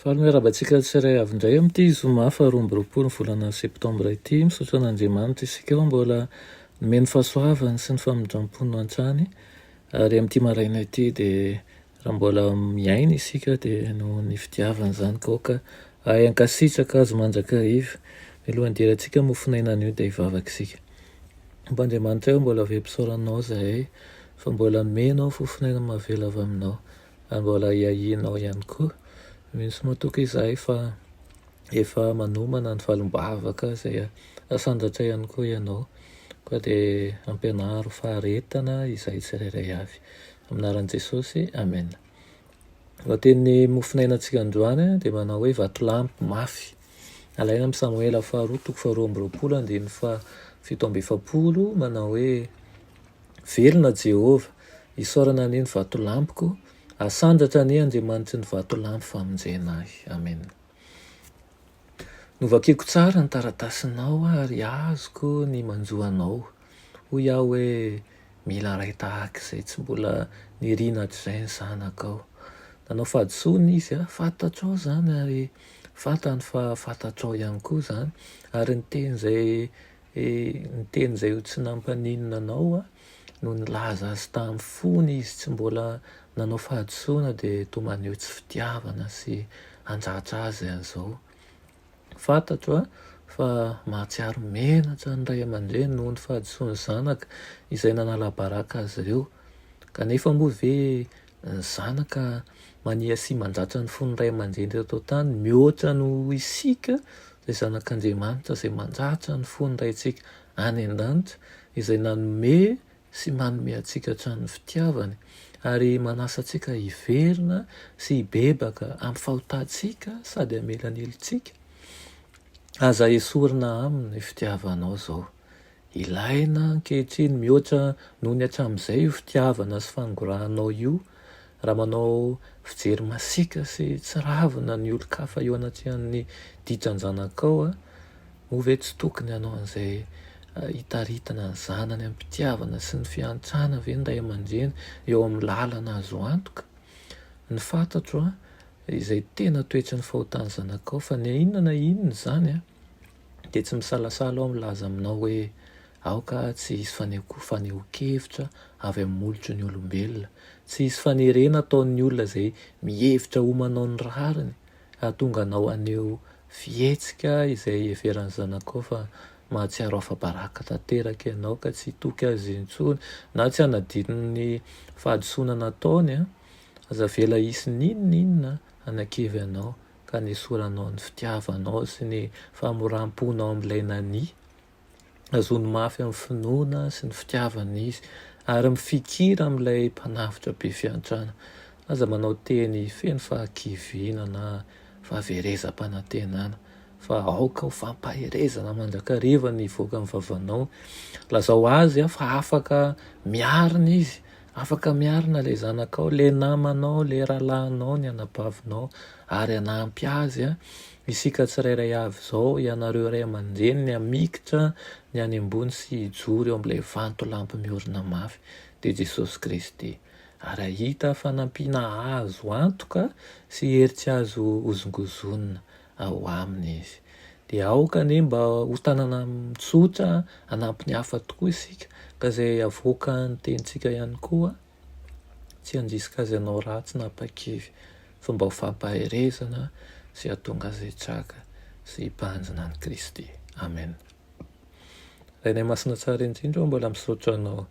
Faly miarahaba antsika tsirairay avy indray amin'ity zoma faha roa amby roapolo ny volana septambra ity. Misaotra an'Andriamanitra isika fa mbola nomeny fahasoavany sy ny famindrampony hatrany, ary amin'ity maraina ity dia raha mbola miaina isika dia noho ny fitiavany izany ka aoka hahay hankasitraka Azy mandrakariva. Mialohan'ny hidirantsika mofonaina anio dia hivavaka isika. Tompo Andriamanitray ô, mbola very mpisaora Anao izahay fa mbola nomenao fofonaina mahavela avy Aminao. Mbola iahianao ihany koa. Misy moa tokoa izahay fa efa manomana ny valim-bavaka izay asandatra ihany koa ianao. Koa dia ampianaro faharetana izahay tsirairay avy. Amin'ny anaran'i Jesosy, Amen. Lohatenin'ny mofonainantsika androany dia manao hoe vatolampy mafy. Alaina amin'ny Samoela faharoa toko faharoa amby roapolo andininy fahafito amby efapolo manao hoe, Velona Jehovah! Isaorana anie ny vatolampiko, asandratra anie Andriamanitry ny vatolampy famonjena ahy. Amena. Novakiko tsara ny taratasinao ary azoko ny manjo anao. Hoy aho hoe, Mila ray tahaka izay tsy mbola nirina hatrizay ny zanakao. Nanao fahadisoana izy aho, fantatrao izany ary fantany fa fantatrao ihany koa izany, ary ny teny izay He niteny izay ho tsy nampaninona anao aho, no nilaza azy tamin'ny fony izy tsy mbola nanao fahadisoana dia toa maneho tsy fitiavana sy handratra azy an'izao. Fantatro fa mahatsiaro menatra ny ray aman-dreny noho ny fahadisoan'ny zanaka izay nanala baraka azy ireo. Kanefa moa ve ny zanaka mania sy mandratra ny fon'ny ray aman-dreny teto an-tany mihoatra noho isika izay zanak'Andriamanitra izay mandratra ny fon'ny Raintsika any an-danitra izay nanome sy manome antsika hatramin'ny fitiavany ary manasa antsika hiverina sy hibebaka amin'ny fahotantsika sady hamela ny helotsika. Aza esorina aminy ny fitiavanao izao. Ilaina ankehitriny mihoatra noho ny hatramin'izay io fitiavana sy fanongorahanao io, raha manao fijery masiaka sy tsiravina ny olon-kafa eo anatrehan'ny ditran-janakao, moa ve tsy tokony hanao an'izay hitaritana ny zanany am-pitiavana sy ny fiantrana ve ny ray aman-dreny eo amin'ny lalana azo antoka? Ny fantatro izay tena toetry ny fahotan'ny zanakao, fa na inona na inona izany an, dia tsy misalasala aho milaza aminao hoe aoka tsy hisy fanehoako fanehoan-kevitra avy amin'ny molotry ny olombelona, tsy hisy fanerena ataon'ny olona izay mihevitra ho manao ny rariny hahatonga anao haneho fihetsika izay iheveran'ny zanakao fa mahatsiaro afa-baraka tanteraka ianao ka tsy hitoky azy intsony na tsy hanadino ny fahadisoana nataony. Aza avela hisy n'inon'inona hanakivy anao ka nesoranao ny fitiavanao sy ny famoram-ponao amin'ilay nani, azony mafy amin'ny finoana sy ny fitiavana izy, ary mifikira amin'ilay Mpanavotra be fiantrana. Aza manao teny feno fahakiviana na fahaverezam-panantenana, fa aoka ho fampaherezana mandrakariva ny hivoaka amin'ny vavanao. Lazao azy fa afaka miarina izy Afaka miarina ilay zanakao, ilay namanao, ilay rahalahinao, ny anabavinao ary hanampy azy. Isika tsirairay avy izao, ianareo ray aman-dreny, ny hamikitra ny any ambony sy hijoro eo amin'ilay vantolampy miorina mafy, dia Jesosy Kristy. Ary hahita fanampiana azo antoka sy hery tsy azo hozongozonina. ao aminy izy. Dia aoka anie mba ho tanana tsotra hanampy ny hafa tokoa isika, ka izay avoaka ny tenintsika ihany koa tsy handrisika azy hanao ratsy na hampakivy, fa mba ho fampaherezana sy hahatonga azy hitraka sy hibanjina an'i Kristy. Amen. Rainay Masina Tsara indrindra ô, mbola misaotra Anao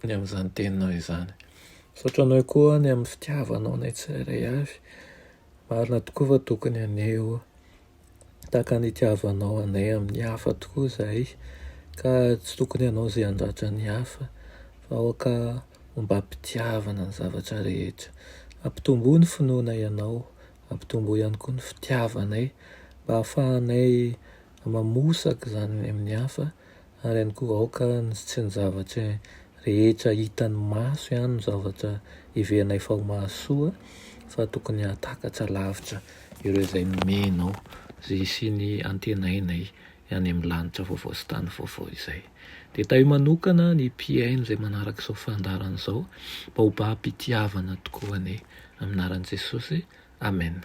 ny amin'izany Teninao izany. Misaotra Anao koa ny amin'ny fitiavanao anay tsirairay avy. Marina tokoa fa tokony haneho tahaka ny itiavanao anay amin'ny hafa tokoa izahay, ka tsy tokony hanao izay handratra ny hafa, fa aoka ho mba am-pitiavana ny zavatra rehetra. Ampitomboy ny finoana Ianao, ampitomboy ihany koa ny fitiavanay, mba hahafahanay mamosaka izany amin'ny hafa, ary ihany koa aoka ny tsy ny zavatra rehetra hitan'ny maso ihany no zavatra heverinay fa ho mahasoa fa tokony hahatakatra lavitra ireo izay nomenao izay hisian'ny antenainay any amin'ny lanitra vaovao sy tany vaovao izay. Dia tahio manokana ny mpihaino izay manaraka izao fandaharana izao mba ho babo-pitiavana tokoa anie amin'ny anaran'i Jesosy. Amen.